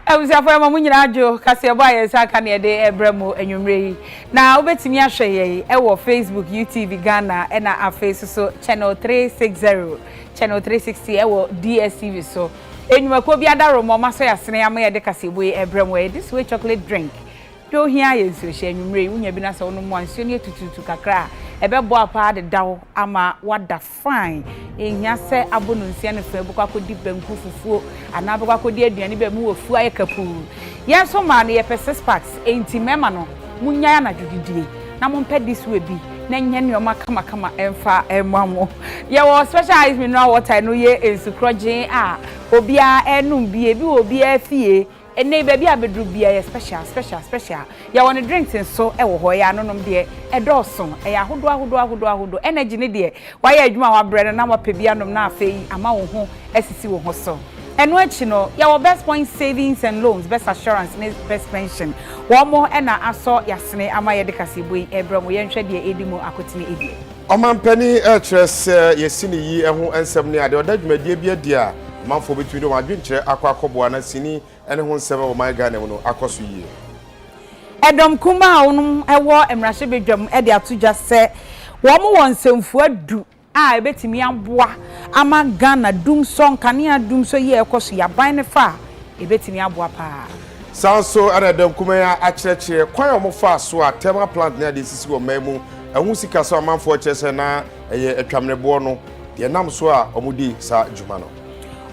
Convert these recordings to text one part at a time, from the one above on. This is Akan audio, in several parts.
abusuafo ɛma mo nyinaa adwo kaseɛbɔ a yɛn nsa aka ne yɛde ɛbrɛ mo anwummerɛ yi na wobɛtumi ahwɛ yɛn ɛwɔ facebook utv ghana ɛna afei soso channel 360 channel 360 ɛwɔ dstv so nnwumakuo bi adaro ma ɔma sɔ yɛasene ama yɛde kaseɛbɔ yi ɛbrɛ mo ɛyɛ this way chocolate drink deɛ ohia yɛ nsuo hyɛ anwummerɛ yi wonya bi na sɛ wonom a nsuo no yɛ tututu kakra a ɛbɛboa paa dedaw ama wada Fine, enhia sɛ abo no nsia no fã bɛkɔ akɔdi banku fufuo anaa bɛkɔ akɔdi aduane baabi wɔ afuo ayɛ kapuu. Yɛn nso mmaa no yɛpɛ six packs enti mmarima no monnyae anadwo didie na mompɛ this way bi na ɛnyɛ nnoɔma kamakama mfa mma mo. Yɛwɔ special ice mineral water ɛno yɛ nsu korɔgyee a obiara ɛrenom bi, ebi wɔ obiara fie Ɛnnɛ yi baabi a bɛduru biara yɛ special, special, special. Yɛwɔ no drinks nso wɔ hɔ, ɛyɛ anonom deɛ, ɛdɔɔso, ɛyɛ ahodoɔ ahodoɔ ahodoɔ ahodoɔ. Energy no deɛ, wayɛ adwuma a wabrɛ no na wapɛ bi anom na afei ama wo ho asisi wo ho so. Ɛno akyi no, yɛwɔ Best Point Savings and Loans, Best Assurance ne Best Pension. Wɔn na asɔ yɛasene ama yɛde kaseɛbɔ yi rebrɛ mo. Yɛnhwɛ deɛ ɛredi mu akotene deɛ. Ɔmanpanin rekyerɛ sɛ yɛasi ne yi ho nsɛm ne ade ɔda dwumadie bi adi a ɔmanfoɔ bɛtumi de wɔn adwenkyerɛ akɔ akɔboa na sini ne ho nsɛm wɔ ɔman Ghana mu no akɔ so yie. Ɛdɔm kumaa a wɔnom wɔ mmarahyɛbadwam de ato dwa sɛ wɔn wɔ nsɛmfua du a ɛbɛtumi aboa ama Ghana dumsɔ, nkanea dumsɔ yi a ɛkɔ so yi aban no fa a ɛbɛtumi aboa paa. Saa ara nso na ɛda Nkumaya akyerɛkyerɛ kwan a wɔfaa so a thermal plant ne ade sisi wɔ mmaa mu, ɛho sika sɛ ɔmanfoɔ kyerɛ sɛ na ɛyɛ atwamereboɔ no deɛ ɛnam so a wɔdi saa dwuma no.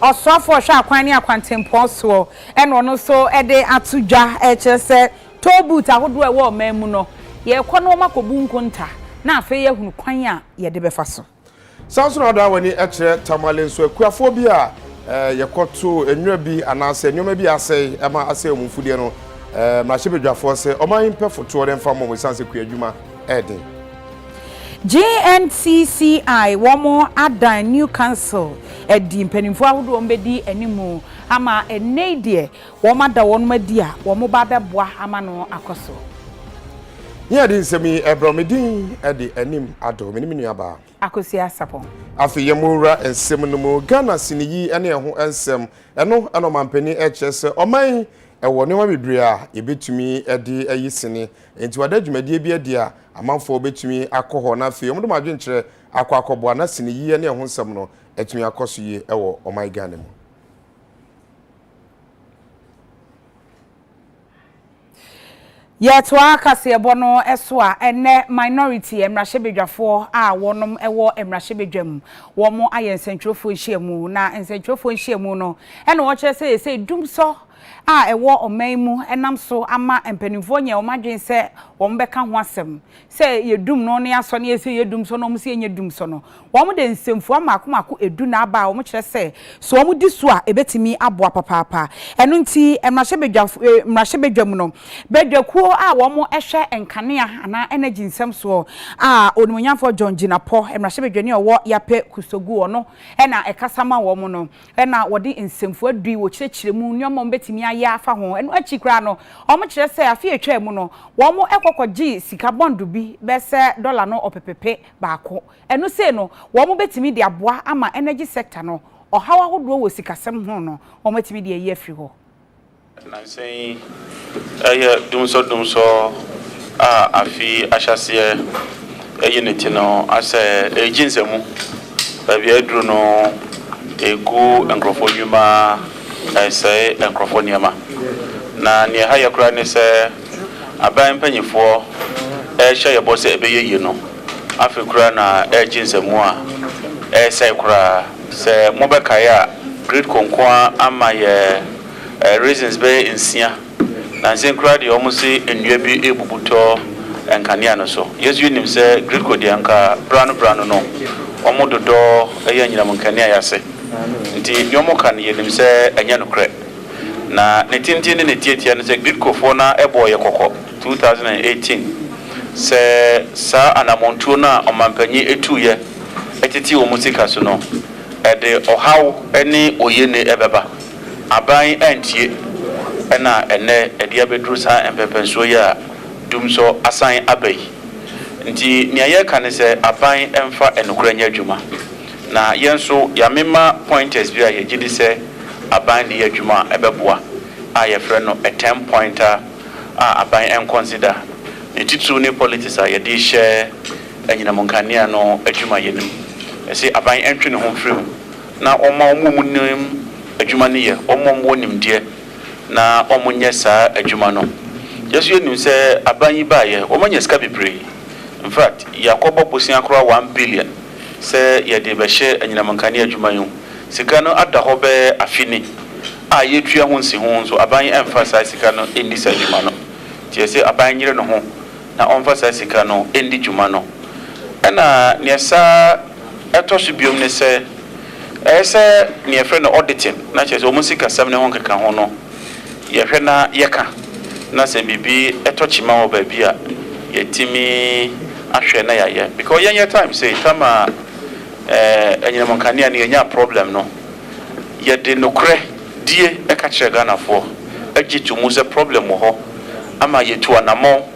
Ɔsoafoɔ a ɔhwɛ akwan ne akwantempɔn soɔ na ɔno nso de ato dwa kyerɛ sɛ toll booth ahodoɔ a ɛwɔ ɔman mu no, yɛrekɔ na wɔakɔbu nkonta na afei yɛahunu kwan a yɛde bɛfa so. San nso na wodan w'ani kyerɛ Tamale nso, akuafoɔ bi a yɛkɔtoo nwura bi anaasɛ nneɛma bi asɛe ma asɛe wɔn mfudeɛ no, mmarahyɛbadwafoɔ sɛ ɔman yi mpɛ fotoɔ no mfa mmɔ wɔn ɛsiane sɛ kuadwuma ɛɛden. GNCCI wɔn adan New Council adi, mpanimfoɔ ahodoɔ wɔn bɛdi anim ama ɛnnɛ yi deɛ Wɔada wɔnom adi a wɔn ba bɛboa ama no akɔ so. Nea ɛde nsɛm yi brɛ me din de Anim Adɔ. Mene me nuabaa. Akosua Sapong. Afei yɛn wura nsɛm no mu. Ghana siniyi ne ɛho nsɛm. Ɛno na ɔmanpanin rekyerɛ sɛ ɔman yi wɔ nneɛma bebree a yɛbɛtumi de ayi sini. Enti wɔada dwumadie bi adi a amanfoɔ bɛtumi akɔ hɔ na afei wɔde wɔn adwenkyerɛ akɔ akɔboa na siniyi ne ɛho nsɛm no atumi akɔ so yie wɔ ɔman Ghana mu. Yɛtoa kaseɛbɔ no so a, ɛnnɛ Minority mmarahyɛbadwafoɔ a wɔnom wɔ mmarahyɛbadwam, wɔn ayɛ nsɛntwerɛfoɔ nhyiamu, na nsɛntwerɛfoɔ nhyiamu no ɛna wɔkyerɛ sɛ seesei dumsɔ a ɛwɔ ɔman mu nam so ama mpanimfoɔ nyɛ wɔn adwene sɛ wɔn bɛka ho asɛm. sɛ yɛ dum no ne asɔ ne yɛ sɛ yɛ dum sɔ na wɔn se yɛ nyɛ dum sɔ no, wɔn de nsɛmfua mmaako mmaako edu na aba a wɔn kyerɛ sɛ sɛ wɔn di so a ebetumi aboa papaapa. Ɛno nti mmarahyɛbadwafo eh, mmarahyɛbadwam no, badwakuo a wɔn hwɛ nkanea anaa energy nsɛm soɔ a Onimuonyamfoɔ John Jinapor, mmarahyɛbadwani a ɔwɔ Yapɛ Kusogu, ɔno na ɛkasa ma wɔn no, Ɛnna wɔde nsɛmfua du yi wɔkyerɛkyerɛ mu nneɛma a wɔbɛtumi ayɛ afa ho. Ɛno akyi koraa no, wɔkyerɛ sɛ afe a ɛtwaa mu no, wɔkɔ kɔgyee sika bɔndo bi bɛyɛ sɛ dɔla no ɔpepepe baako. Ɛno sei no, wɔbɛtumi de aboa ama energy sector no, ɔhaw ahodoɔ wɔ sikasɛm ho no, wɔatumi de ayi afiri hɔ. Nnansa yi, ɛyɛ dumsɔdumsɔ a afe yi ahyɛaseɛ ayi ne ti no asɛ, ɛregye nsamu. Baabi a aduru no, ɛregu nkurɔfoɔ nnwuma, ɛresɛe nkurɔfoɔ nneɛma. Na deɛ ɛha yɛ koraa ne sɛ, aban mpanimfoɔ rehyɛ yɛn bɔ sɛ ɛbɛyɛ yie no, afei koraa na ɛregye nsamu a ɛresɛe koraa. Sɛ mobɛkae a, Gridco nko ara amma yɛn. Raisins bɛyɛ nsia, na nsenkura deɛ wɔn se nnua bi rebubu tɔ nkanea no so. Yɛ nso yɛ nim sɛ Greekfoɔ deɛ anka berano berano no wɔn dodɔ yɛ anyinam nkanea yɛ ase. Nti deɛ wɔn ka no yɛ nim sɛ ɛnyɛ nokorɛ. Na ne tenten ne ne tiatia no sɛ Greekfoɔ no ara bɔɔ yɛ kɔkɔ, two thousand and eighteen, sɛ saa anamontuo no a ɔmanpanyin tuuyɛ tete wɔn sika so no ɛde ɔhaw ne oyiene bɛba. Aban antie na ɛnnɛ ɛde abɛduru saa mpɛnpɛnsoɔ yi a dumsɔ asan aba yi. Nti nea yɛreka ne sɛ aban mfa nokorɛ nyɛ adwuma. Na yɛn nso yɛamema pointers bi a yɛgye di sɛ aban de yɛ adwuma a ɛbɛboa a yɛfrɛ no a ten pointer a aban nkɔnsida. Ne titiriw ne politics a yɛde rehyɛ anyinam nkanea no adwumayɛ no mu. Yɛse aban ntwe ne ho mfiri mu na wɔmma wɔn a wɔnim adwuma no yɛ, wɔn a wɔwɔ nimdeɛ na wɔnyɛ saa adwuma no. Yɛn nso yɛnim sɛ aban yi baeɛ, wɔanya sika bebree. In fact, yɛakɔbɔ bosea koraa one billion sɛ yɛde rebɛhyɛ anyinam nkanea adwuma yi ho. Sika no ada hɔ bɛyɛ afe ni a yɛretua ho nsiho nso aban yi amfa saa sika no anni saa dwuma no. Nti yɛse aban nyere ne ho na ɔmfa saa sika no ndi dwuma no. Ɛna nea saa. Ɛtɔ so biom ne sɛ, ɛyɛ sɛ nea yɛfrɛ no auditing, na kyerɛ sɛ wɔn sikasɛm ne ho nkekaho no, yɛhwɛ na yɛka, na sɛ biribi tɔ kyima wɔ baabi a, yɛatumi ahwɛ na yɛayɛ. Because yɛn yɛ time sei, time a anyinam nkanea no yɛnyaa problem no, yɛde nokorɛ die ka kyerɛɛ Ghanafoɔ, gye to mu sɛ problem wɔ hɔ, ama yɛtu anamɔn.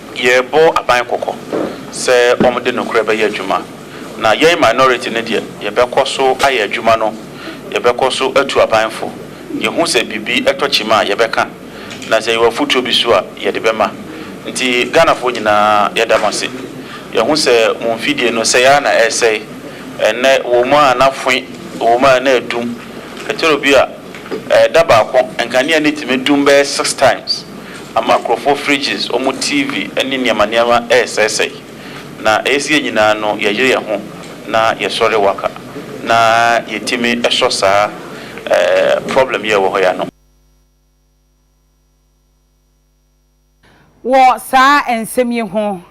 Yɛbɔ aban kɔkɔ sɛ wɔde nokorɛ bɛyɛ adwuma, na yɛn minority no deɛ yɛbɛkɔ so ayɛ adwuma no, yɛbɛkɔ so atu aban fo, yɛhu sɛ biribi tɔ kyima a yɛbɛka, na sɛ yɛwɔ afotuo bi so a yɛde bɛma. Nti Ghanafoɔ nyinaa yɛda mo ase. Yɛahu sɛ mo mfidie no sɛe ara na ɛresɛe, ɛnnɛ wɔ mu a na fwe, wɔ mu a na adum, ɛtɔrɔ bi a da baako nkanea no tumi dum bɛyɛ six times. Ama nkurɔfoɔ fridges, wɔn TV ne nneɛma nneɛma resɛesɛe. Na ɛyɛ sɛ yɛn nyinaa no yɛyere yɛn ho na yɛsɔre waka na yɛtumi sɔ saa problem yi a ɛwɔ hɔ yi ano. Wɔ saa nsɛm yi ho,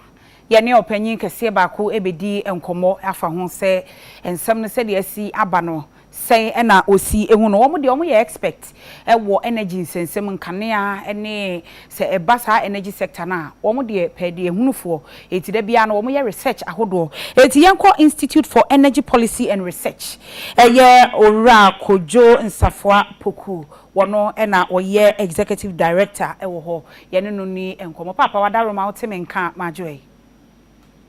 yɛne ɔpanyin kɛseɛ baako bɛdi nkɔmmɔ afa ho sɛ nsɛm no sɛdeɛ asi aba no Sɛn na osi hu no? Wɔn deɛ wɔyɛ expect wɔ energy nsɛnsɛm, nkanea ne sɛ ɛba saa energy sector no a, wɔn deɛ pɛɛdeɛhunufoɔ nti da biara no wɔyɛ research ahodoɔ. Nti yɛnkɔ Institute for Energy Policy and Research, ɛyɛ Owura Kojo Nsafoa Poku, wɔn na wɔyɛ Executive Director wɔ hɔ, yɛne no nni nkɔmmɔ. Paapa w'adaworoma wote me nka a, m'adwoɛ.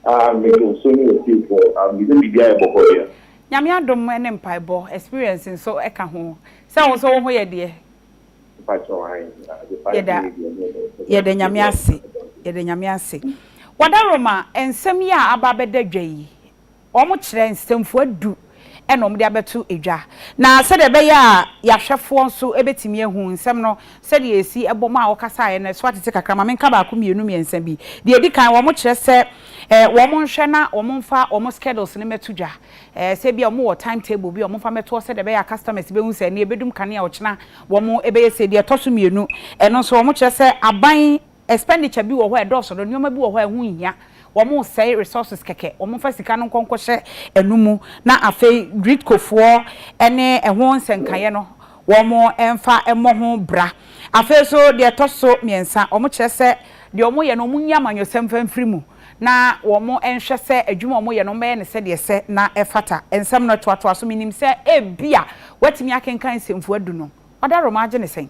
Ah me dɔ so ne ɔtiefoɔ ah me sɛ biribiara yɛ bɔkɔ deɛ. Nyame adom ne mpaebɔ experience nso ka ho. Sɛ wo nso wo ho yɛ deɛ? Mepa kyɛw ae ah the five Yɛda minutes deɛ me dɔ so yɛda Nyame ase yɛda Nyame ase. Wadaroma nsɛm yi a aba abɛda dwa yi wɔkyerɛ nsɛmfua du na wɔde abɛto dwa, na sɛdeɛ ɛbɛyɛ a yɛahwɛfoɔ nso bɛtumi ahu nsɛm no sɛdeɛ ɛsi bɔm a wɔkasaeɛ no, ɛso atete kakra. Ma menka baako mmienu mmiɛnsa bi. Deɛ ɛdi kan, wɔkyerɛ sɛ wɔnhwɛ na wɔmfa wɔn schedules no mmɛto dwa. Sɛ ebia wɔwɔ time table bi a wɔmfa mmɛto hɔ sɛdeɛ ɛbɛyɛ a customers bɛhu sɛ ɛnnɛ yɛbɛdum kanea, ɔkyena wɔbɛyɛ sei. Deɛ ɛtɔ so mmienu, ɛno nso wɔkyerɛ sɛ aban Expenditure bi wɔ hɔ a ɛdɔɔso no, nneɛma bi wɔ hɔ a ɛho nhia, wɔresɛe resources kɛkɛ, wɔmfa sika no nkɔ nkɔhyɛ ɛno mu na afei Gritcofoɔ ne ɛho nsɛnkaeɛ no wɔmfa mmɔ ho bra. Afei nso deɛ ɛtɔ so mmiɛnsa, wɔkyerɛ sɛ deɛ wɔyɛ no wɔnyi amanyɔsɛm mfa mfiri mu na wɔnhwɛ sɛ adwuma a wɔyɛ no wɔbɛyɛ no sɛdeɛ ɛsɛ na ɛfata. Nsɛm no toatoa so, menim sɛ ebia woatumi akenkan nsɛmfua du no. Ɔda Roma gye no sɛn?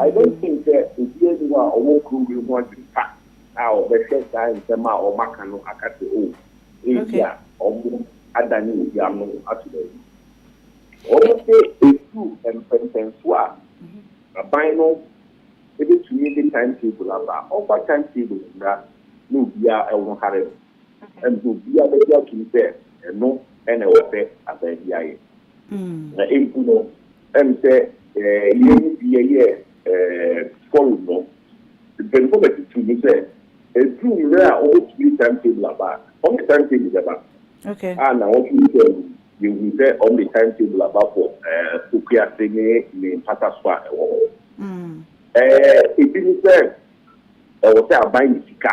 I don't think sɛ obiara nni hɔ a ɔwɔ kuro wei ho adwene pa a ɔbɛhwɛ saa nsɛm a wɔaka no aka sɛ oh, ebi a wɔn adane obi ano ato baabi. Wɔn sɛ ɛduru mpɛmpɛnsoɔ a aban no ɛbɛtumi de time table aba a, wɔmfa time table mmra na obiara wɔnhare no. Ɛnde obiara begye atom sɛ ɛno na ɛwɔ sɛ aban biara yɛ. Na mpo no, ɛwom sɛ yɛn mu bi yɛ forum no mpanyimfo ma ɛto too mu sɛ eduu mmere a wɔbetumi timetable aba a, wɔde timetable bɛba. A Nnawɔtwe yi baa mu no, yehui sɛ wɔde timetable aba for Okuase ne ne mpata so a ɛwɔ hɔ. Ebi ne sɛ ɛwɔ sɛ aban nya sika.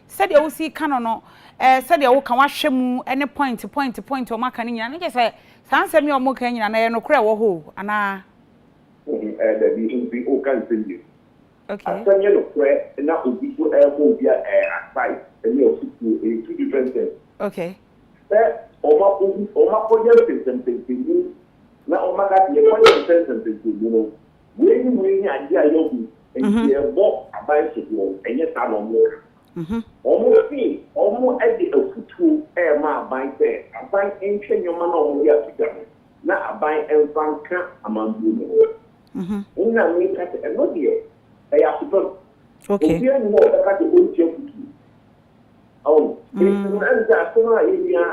Sɛdeɛ wosi reka no no, eh, sɛdeɛ woka, woahwɛ mu, ne point, point, point a wɔaka no nyinaa, na kyerɛ sɛ saa nsɛm yi a wɔreka yi nyinaa no, ɛyɛ nokorɛ wɔ hɔ o, anaa? Wohu, eh, dabi, nti woka nsɛm mmienu. Okay. Asɛm yɛ nokorɛ na obi nso rebɔ obi a, eh, aside ne afotuo, ɛyɛ two different things. Okay. Sɛ wɔakɔ, wɔakɔyɛ nsɛnsɛmsɛnsɛmu na wɔaka sɛ yɛnkɔyɛ nsɛnsɛmsɛnsɛmu no, Wei ne wei ne adeɛ a yɛahu nti yɛrebɔ aban soboɔ, ɛnyɛ saa na wɔka. Wɔn se wɔn de afutuo rema aban sɛ aban nhwɛ nneɛma no a wɔde ato dwa no na aban mfa nka amanbuo no ho. Wo na meka sɛ ɛno deɛ ɛyɛ asopam. Obiara nni hɔ a ɔbɛka sɛ ɔnti afutuo. Ɔho, nti no ɛne sɛ asɛm a yɛnua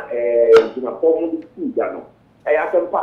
Gyinapɔ mo de tuu dwa no ɛyɛ asɛm pa.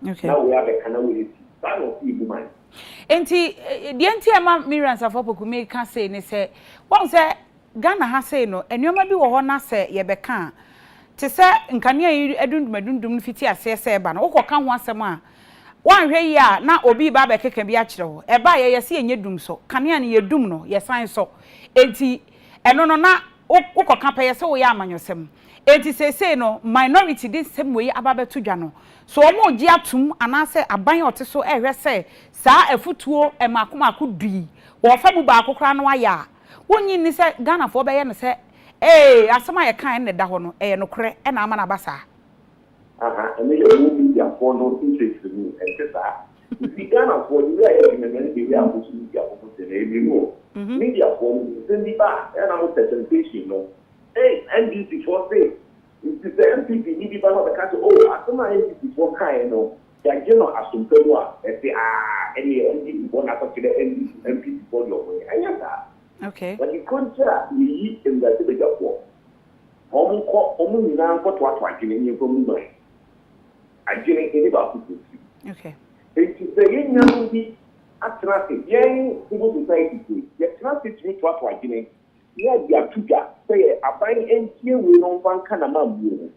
na wei abɛka na wei asi. Saa na ɔse yɛbu man. Enti deɛ nti a ɛma Miriam Sarfo Opoku meka sei ne sɛ, woahu sɛ Ghana ha sei no, nneɛma bi wɔ hɔ na sɛ yɛbɛka a, te sɛ nkanea yi adundum adundum no fiti aseɛ sɛ ɛba no, wokɔka ho asɛm a, woanhwɛ yie a na obi reba abɛkeka bi akyerɛ wo. Ɛbaeɛ, yɛse yɛnyɛ dum sɔ. Kanea no, yɛdum no, yɛsan sɔ. Enti ɛno no na wo wokɔka pɛ yɛ sɛ woyɛ amanyɔsɛm. Enti seesei no minority de nsɛm wei aba abɛto dwa no, so wɔregye atom anaasɛ aban a ɔte so rehwɛ sɛ saa afutuo mmaako mmaako du yi wɔfa mu baako koraa no ayɛ a, wonnye nni sɛ Ghanafoɔ bɛyɛ no sɛ ee asɛm a yɛkaeɛ no na ɛda hɔ no, ɛyɛ nokorɛ na ama no aba saa. Aha, ɛno yɛ mo mediafoɔ no nkyerɛkyerɛmu, ɛnte saa? Yɛfiri Ghanafoɔ de wei a yɛdwene no ɛne deɛ wei a moso media ho no deɛ no ɛyɛ mmienu o. Mediafoɔ no nsɛm bi ba a ɛyɛ a na mo presentation no, ei NDC foɔ se, nti sɛ NPP ni bi ba na ɔbɛka sɛ o asɛm a NDC foɔ kaeɛ no yɛagye no asompa mu a, ɛse aa ɛneɛ NDC foɔ na akɔkyerɛ NDC, NPP foɔ deɛ ɔmo nyɛ. Ɛnyɛ saa. Wɔde kɔgyaa Yeyi mmarahyɛbadwafoɔ. Wɔnkɔ, wɔn nyinaa nkɔtoatoa adwene ne nkwa mu man. Adwene, yɛne baako pɛ tiri. Enti sɛ yɛn nuanom bi atena ase, yɛn civil society fo yi, yɛtena ase tumi toatoa adwene ne ade ato dwa sɛ yɛ aban ntie wei na ɔmfa nka n'amammue ho.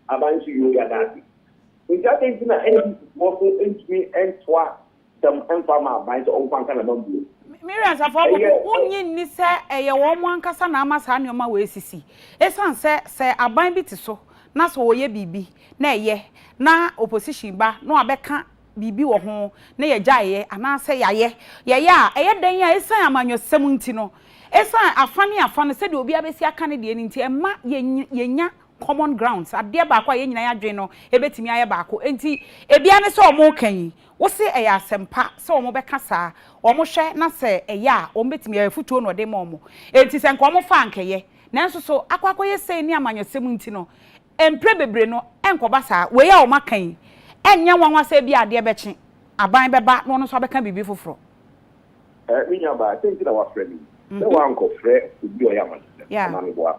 Aban nso, yoo, yɛada ase. Enti adɛn nti na NDC foɔ nso ntumi ntoa sɛm mfa ma aban sɛ ɔmfa nka n'aba mmuo. Miriam Safoa Apoku, Wonnye nni sɛ ɛyɛ wɔn ankasa na ama saa nneɛma wei asisi? Esiane sɛ sɛ aban bi te so na sɛ wɔyɛ biribi na ɛyɛ na opposition ba na wɔabɛka biribi wɔ ho na yɛgyae yɛ anaasɛ yɛayɛ, yɛyɛ a, ɛyɛ dɛn a esiane amanyɔsɛm nti no, esiane afa ne afa no sɛdeɛ obiara bɛsi aka ne deɛ no nti, ɛmma yɛnnya common grounds, adeɛ baako a yɛn nyinaa yɛn adwene no bɛtumi ayɛ baako. Enti ebi ara ne sɛ wɔreka yi, Wose ɛyɛ asɛm pa sɛ wɔn bɛka saa, wɔn hwɛ na sɛ ɛyɛ a wɔn bɛtumi ayɛ, afutuo na ɔde ma wɔn, enti sɛ nka wɔn fa a nka ɛyɛ, nanso so akɔ akɔyɛ sei ne amanyɔsɛm nti no mprɛ bebree no ɛnkɔba saa, wei a wɔn aka yi ɛnyɛ nwanwa sɛ ebia adeɛ bɛkye, aban bɛba na ɔno nso abɛka biribi foforɔ. Eh, me nuabaa, sɛ nti na woafrɛ me yi, sɛ woankɔfrɛ obi a ɔyɛ amanyɔsɛm anaa meboa?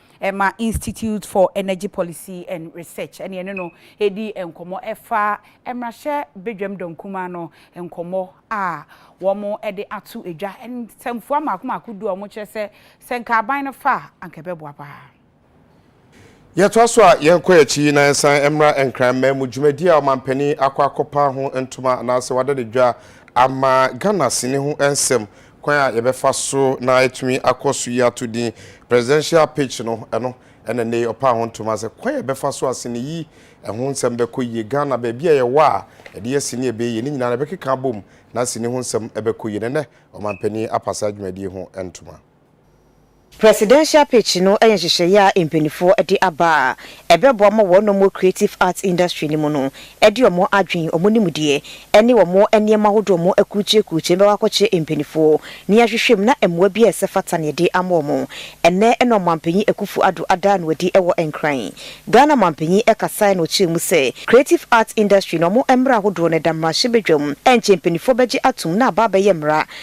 ɛma Institute for Energy Policy and Research ɛne ɛne no redi nkɔmmɔ ɛfa mmarahyɛ badwam dɔm kumaa no nkɔmmɔ a wɔde ato dwa. Nsɛmfua mmaako mmaako du a wɔkyerɛ sɛ sɛ nka aban no fa a anka ɛbɛboa paa. Yɛtoa so a yɛkɔ akyi na yɛsan mmra Nkran mmamu dwumadi a ɔmanpanin akɔ akɔpa ho ntoma anaasɛ wada no dwa ama Ghana sini ho nsɛm Kwan a yɛbɛfa so na yɛatumi akɔ so yi ato din Presidential Pitch no, ɛno na nnɛ yi ɔpaa ho ntoma sɛ kwan a yɛbɛfa so asene yi ɛho nsɛm bɛkɔ yie. Ghana, baabi a yɛwɔ a ɛde yɛ sini a ɛbɛyɛ yie no nyinaa no yɛbɛkeka abom na sini ho nsɛm bɛkɔ yie. Na nnɛ ɔmanpanin apa saa dwumadie ho ntoma. Presidential Pitch no yɛ nhyehyɛeɛ a mpaninfoɔ de aba a ɛbɛboa ma wɔnom wɔ creative arts industry no mu no de wɔn adwen, wɔn nimdeɛ ɛne wɔn nneɛma ahodoɔ wɔn akurukyire kurukyire no bɛkɔ akɔkyerɛ mpaninfoɔ na yɛahwehwɛ mu na mmoa biara a ɛsɛ fata no yɛde ama wɔn. Ɛnnɛ na Ɔmanpanin Akuffo Addo adaa no adi wɔ Nkran. Ghana Ɔmanpanin kasaeɛ na ɔkyerɛɛ mu sɛ creative arts industry no wɔn mmara ahodoɔ no ɛda mmarahyɛbadwam ɛnkyɛ mpaninfoɔ bɛgye atom na aba abɛyɛ mmara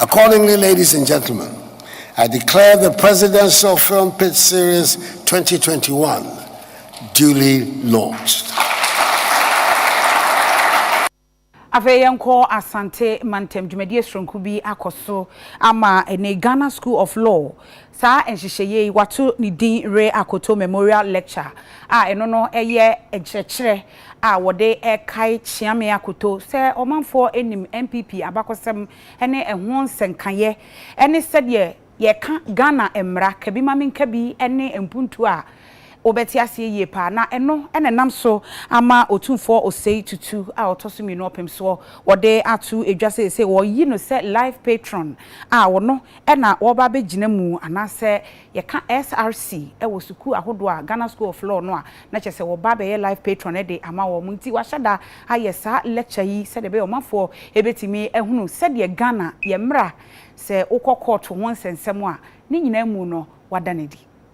Accordingly ladies and gentlemen, I declare the Presidential Film Pitch Series 2021 duly launched. Afei yɛnkɔ Asante mantam, dwumadie soronko bi akɔ so ama ɛne Ghana School of Law Saa nhyehyɛeɛ yi wɔato ne din Ray Akoto Memorial Lecture a ɛno no yɛ nkyerɛkyerɛ a wɔde rekae Kyeame Akoto sɛ ɔmanfoɔ nim NPP abakɔsɛm ne ɛho nsɛnkaeɛ ne sɛdeɛ yɛka Ghana mmara, kabimamenkabi ne mpuntuo a wobɛte aseɛ yie paa na ɛno na ɛnam so ama Otumfoɔ Osei Tutu a ɔtɔ so mmienu ɔpemsoɔ wɔde ato dwa seesei wɔyi no sɛ Life Patron a ɔno na wɔba bɛgyina mu anaasɛ yɛka SRC wɔ sukuu ahodoɔ a, Ghana School of Law no a na kyerɛ sɛ wɔba bɛyɛ Life Patron de ama wɔn nti wɔahyɛ da ayɛ saa lecture yi sɛdeɛ ɛbɛyɛ ɔmanfoɔ bɛtumi ahunu sɛdeɛ Ghana yɛn mmara sɛ wokɔ kɔɔto ho nsɛnsɛm a ne nyinaa mu no wɔada no adi.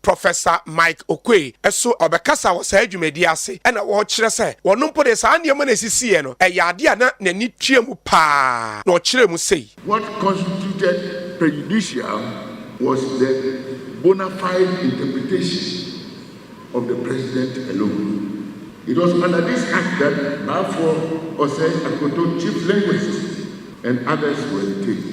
Professor Mike Oquaye nso ɔbɛkasa wɔ saa dwumadi yi ase na ɔrekyerɛ sɛ ɔno mpo deɛ saa nneɛma no a ɛsisiiɛ no, ɛyɛ adeɛ a na n'ani tua mu pa ara na ɔkyerɛɛ mu sei. What constituted prejudicial was the bona fide interpretation of the president alone. It was under this act that Baafoɔ, Osei, Akoto, chief linguists and others were detained.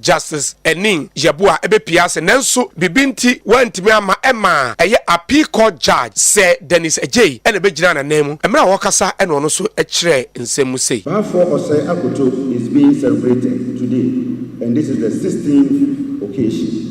Justice Aning Yeboah bepue ase nanso biribi nti wantumi amma ɛmaa ɛyɛ Appeal Court Judge Sir Dennis Adjei na ɛbɛgyinaa n'ananmu mmerɛ a ɔrekasa na ɔno nso kyerɛɛ nsɛm mu sei. Baafoɔ Osei Akoto is being celebrated today and this is the sixteenth occasion.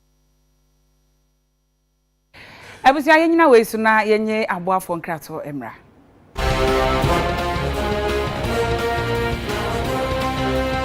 Abusua yɛnyina wei so na yɛnye aboafoɔ nkratoɔ mmra.